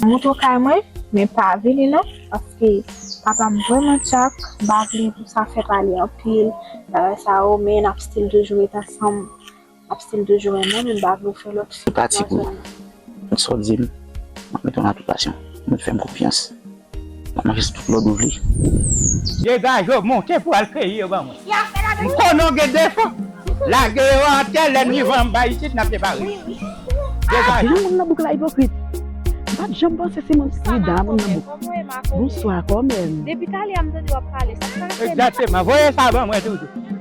Moto kay mwen men pa vini non paske papam vreman tchak m pa vle pou sa fè pale anpil bagay sa yo men nap still toujou ret ansanm. Map stil toujou renmen nou m pa vle ou fè lòt fi pati pou mwen. Tout sa w dim map met an aplikasyon men fèm konfyans map mache sou tout lòd ou vle. Degaj yo monte pou al keyi yo ban mwen. M konnen w gen defo, lage yo atè lè n rive anba isit nap depare yo. Degaj yo. Yon moun nan bouk la ipokrit. M pat janm panse se moun ki dan moun nan bouk. Bonswa kòmè m. Depi talè a m tande w ap pale sa. Egzakteman. Voye sa ban mwen toujou.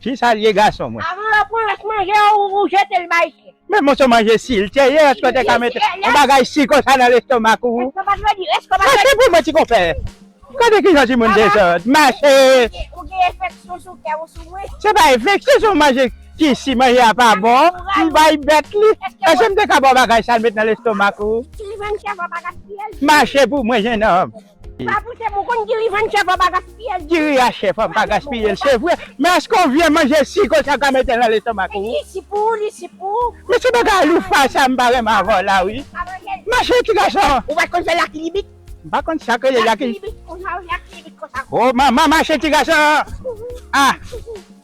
Fi sa liye gason mwen. Avan yo pran rès manje a ou jete l bay chyen. Men moso manje sil te ye eske w te ka mete yon bagay si konsa nan lestomak ou. Estomak vle di estomak vle di. Mache pou mwen ti konpè. Gade kijan timoun dezòd. Mache. Ou gen enfeksyon sou kè ou sou mwen. Se pa enfeksyon se yon manje ki si manje a pa bon m bay bèt li. Eske m te ka ba w bagay sa l met nan lestomak ou. Sil jwenn chèf wap pa gaspiye l. Mache pou mwen jenòm. Pa pou chèf ou konn diri vann chèf an pa gaspiyel diri ya chèf an pa gaspiyel se vre men eske ou vye manje si konsa ou ka metel nan lestomak ou li si pou ou li si pou ou men se bagay loufa sa m pa renmen avè w la wi mache ti gason ou pat konn fè lakilibit m pa konn sak rele lakilibit lakilibit konsa oh manman mache ti gason ah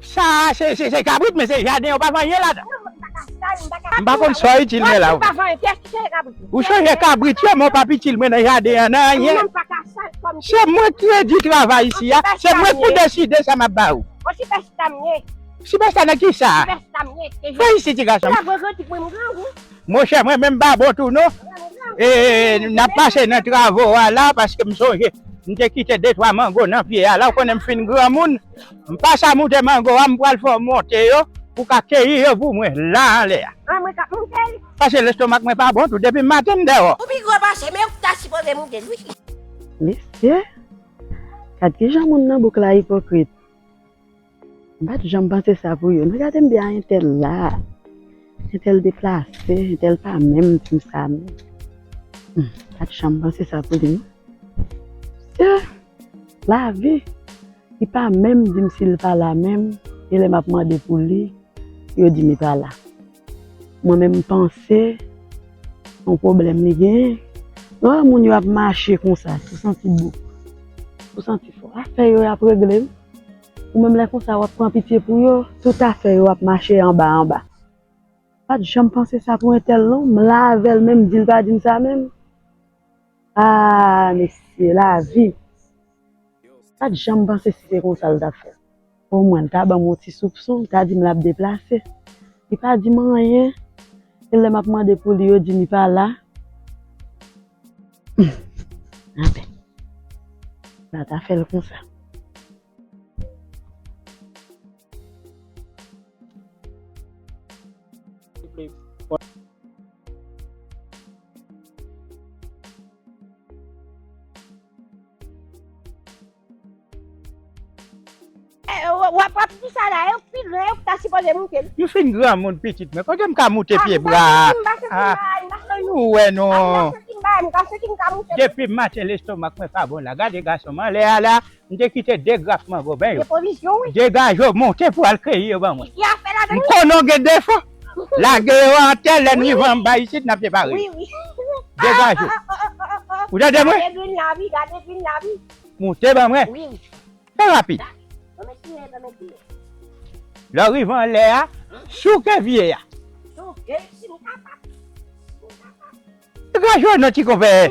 Sa a se kabrit men se jaden yo pa vann yen ladan. M pa konn sa w itil men la wi. Ou chanje kabrit yo men w pap itil mwen nan jaden an nan anyen. Se mwen ki redi travay isi a, se mwen ki deside sa m ap ba ou. Sipèsta nan kisa? Vin isi ti gason m. Monchè mwen menm m pa bon tou non. E n ap pase nan travo a la paske m sonje m te kite de twa mango nan pye a la ou konnen m fin granmoun. M pasa moute mango a m pral fè w monte yo pou w ka keyi yo pou mwen la anlè a. An mwen kap moute l. Pase lestomak mwen pa bon tou depi maten m deyo. Ou pi gwo pase men ou ki ta sipoze moute l wi. Mesye! Gad kijan moun nan bouk la ipokrit. M pat janm panse sa pou yo non gade m byen a entèl la, entèl deplase, entèl pa menm tim sa non. M pat janm panse sa pou li non. Mesye! Lavi! Li pa menm di m si l pa la menm e lè m ap mande pou li, yo di m li pa la. Mwen menm m panse se yon pwoblèm li genyen. Lè w wè moun yo ap mache konsa tou santi bouk, tou santi fò, afè yo y ap regle wi. Ou menm lè konsa w ap pran pitye pou yo, tout afè yo ap mache anba anba. M pa t janm panse sa pou entèl non, m la avè l men m di l pa di m sa menm. Aah mesye lavi Pat janm panse si se konsa l tap fè O mwen l ta banm yon ti soupson l ta dim lap deplase Li pa dim anyen e lè map mande pou li yo dim li pa la Humm anfen Mwen ta fè l konsa. Yo fin granmoun pitit mwen, kote m ka moute pye bwa a? Fè nou wè non. Depi maten lestomak mwen pa bon la, gade gason m anlè a la, M te kite de graf mangoben yo degaje w monte pou al keyi yo ban mwen. M konnen w gen defo, lage yo atè lè n rive anba isit n ap separe yo. Degaje w. Ou tande mwen? Monte ban mwen. Fè rapid. Lè w rive anlè a, souke vye a. Degaje w non ti konpè.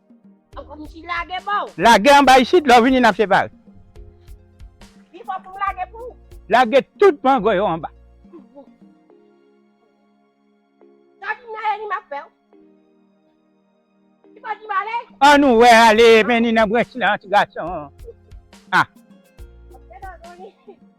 Lage anba isit lè w vini n ap separe. Lage tout mango yo anba. An nou wè ale mennen nan branch lan ti gason.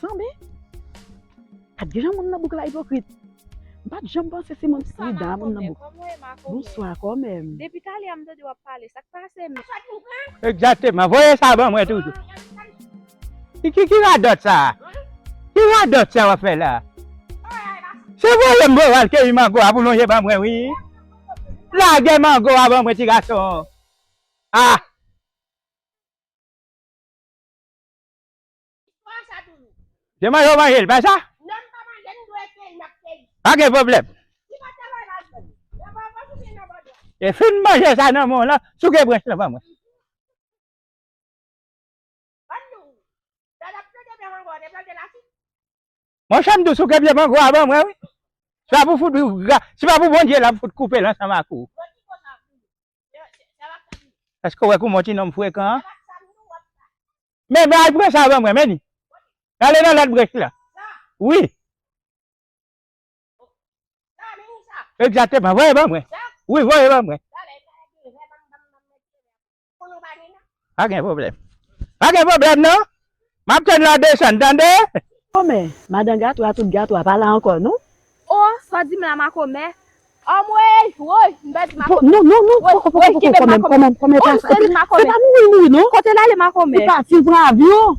Sanbe, ak gen jan moun nan bouk la ipokrit, m pat janm panse se moun prida a moun nan bouk. Bonswa kòmèm. Depi talè a m tande w ap pale, sa k pase menm? Egzakteman, voye sa ban mwen toujou. Ki radòt sa a? Ki radòt sa a w ap fè la a? Se voye m voye w al keyi mango a pou lonje ban mwen wi. Lage mango a ban mwen ti gason. A! Se manje ou manje l, pa sa? Pa gen pwoblèm. E fin manje sa nan men w lan, souke branch lan ban mwen. Mwen chèm dou souke pye mango a ban mwen wi. Se pa pou fout se pa pou Bondye lap fout koupe l ansanm ak ou. Èske ou wè kouman w ti nonm frekan an? Men men al pran sa ban mwen men ni. Ale nan lòt brech la. Wi. Egzateman voye ban mwen. Wi voye ban mwen. Pa gen pwoblèm. Pa gen pwoblèm non. M ap tann la desann tande. Makomè, Madan Gatou a tout Gatou a pa la ankò non. O, sa w di m la Makomè? Anmweyy! Woy! M pèdi Makomè. Non, non, non, poko, poko, poko, kòmè, kòmè, kòmè pa sa. Woy, m pèdi Makomè. Se pa mouri mouri non. Kote l ale Makomè? Ou pa fin pran avyon?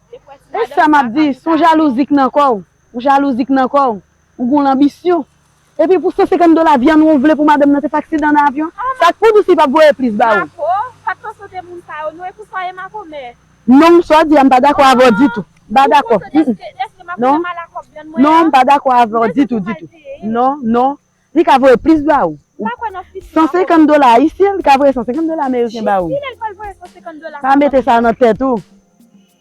E sa m ap di, s on jalouzi k nan kò w, on jalouzi k nan kò w, ou gen w lanbisyon. Epi pou 150 dola vyann ou vle pou madanm nan te fè aksidan nan avyon? Sa k pou Doucy pa p voye plis ba ou? Mako, pa t konsote moun sa yo non, e pou sa w ye makomè? Non, sa w di a m pa dakò avè w ditou. M pa dakò. Ou konsote, èske makomè mal ak kòb vyann mwen an? Non, m pa dakò avè w ditou, ditou. Non, non. Li ka voye plis ba ou. Ou pa kwè nan fis la. 150 dola ayisyen, li ka voye 150 dola ameriken ba ou. Jis ki lè li pral voye 150 dola sa ba ou. Pa mete sa nan tèt ou.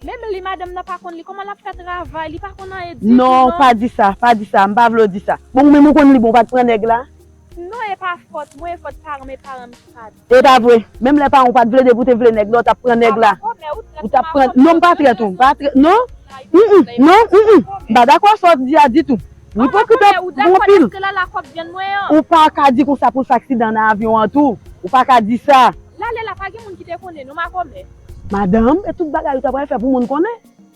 Menm li madanm nan pa konn li, kòman l ap fè travay, li pa konn anyen ditou non. Non, pa di sa, pa di sa, m pa vle w di sa. Bon ou menm ou konn li bon ou pa t pran nèg la? Non e pa fòt mwen, e fòt paran m, e paran m ki pa. E pa vre, menm lè paran w pat vle depi w te vle nèg la w tap pran nèg la. Ou tap pran, non m pa trèt ou, m pa trèt, non, humm, non, humm, m pa dakò a sa w di a ditou. Ou ipokrit anpil. Ou pa ka di konsa pou l fè aksidan nan avyon an tou. Ou pa ka di sa. Madanm, e tout bagay ou ta pral fè pou moun konnen?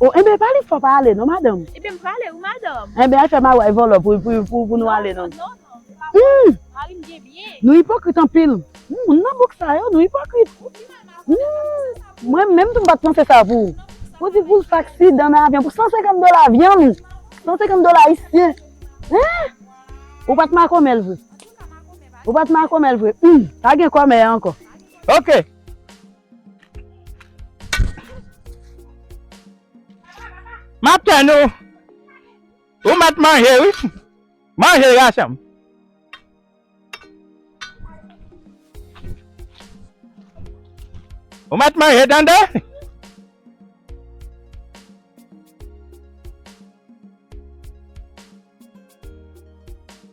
Oh enben pa li fò pa ale non madanm. Ebyen m prale wi madanm. Enben al fè maryaj vòlò pou nou ale non. Non non non se pa vòlò mari m gen byen. Nou ipokrit anpil moun nan bouk sa yo nou ipokrit. Ou pi mal madanm m pa t panse sa pou ou. Mwen menm tou m pa t panse sa pou ou. Ou di pou l fè aksidan nan avyon pou 150 dola avyon 150 dola ayisyen hein ou pa t makomè l vre. Ou pa t makomè l vre humm pa gen kòmè ankò. Ok. Map tann ou. Ou met manje wi. Manje gason. Ou met manje tande.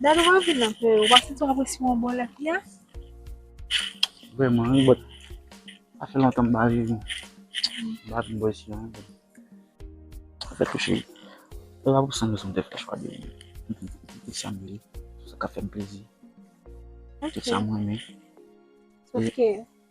Dad ou pa vin nan kè yo, ou pa santi w apresye yon bon lè fia? Vreman wi but, sa fè lontan m pa viv yon bad boy si an. Sa fè tou cheri. E pa pou san rezon m te fè chwa de pitit sa m ye. Sa ka fè m plezi. Pitit sa m renmen. Sòf ke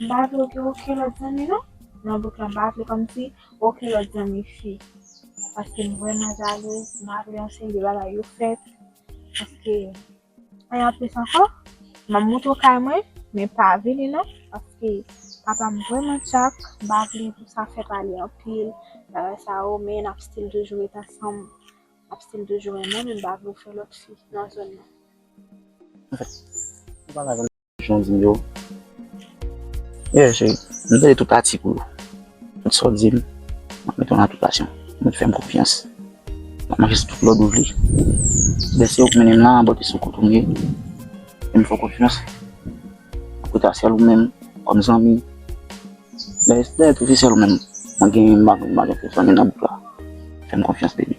M pa vle oke oke lòt zanmi non nan bouk lan m pa vle kòmsi oke lòt zanmi fi paske m vrèman zalèz m pa vle yon seri de bagay yo fèt paske e anplis ankò m ap moute w kay mwen men pa vini non paske papa m vrèman tchak m pa vle pou sa fèt ale anpil bagay sa yo men n ap stil toujou ret ansanm n ap stil toujou renmen men m pa vle w fè lòt fi nan zòn nan. Jan di m yo. Yeah cheri, m tande tout atik ou yo. Tout sa w di m, m ap mete yo an aplikasyon. Mwen fè m konfyans. M ap mache sou tout lòd ou vle. Lè se ou k mennen m lan, bote sou kote m ye. Fè m fè w konfyans. M rete avk sèl ou menm kòm zanmi. Dayè se sèl ou menm mwen genyen m pa gen pèsòn nan bouk la. Fè m konfyans baby.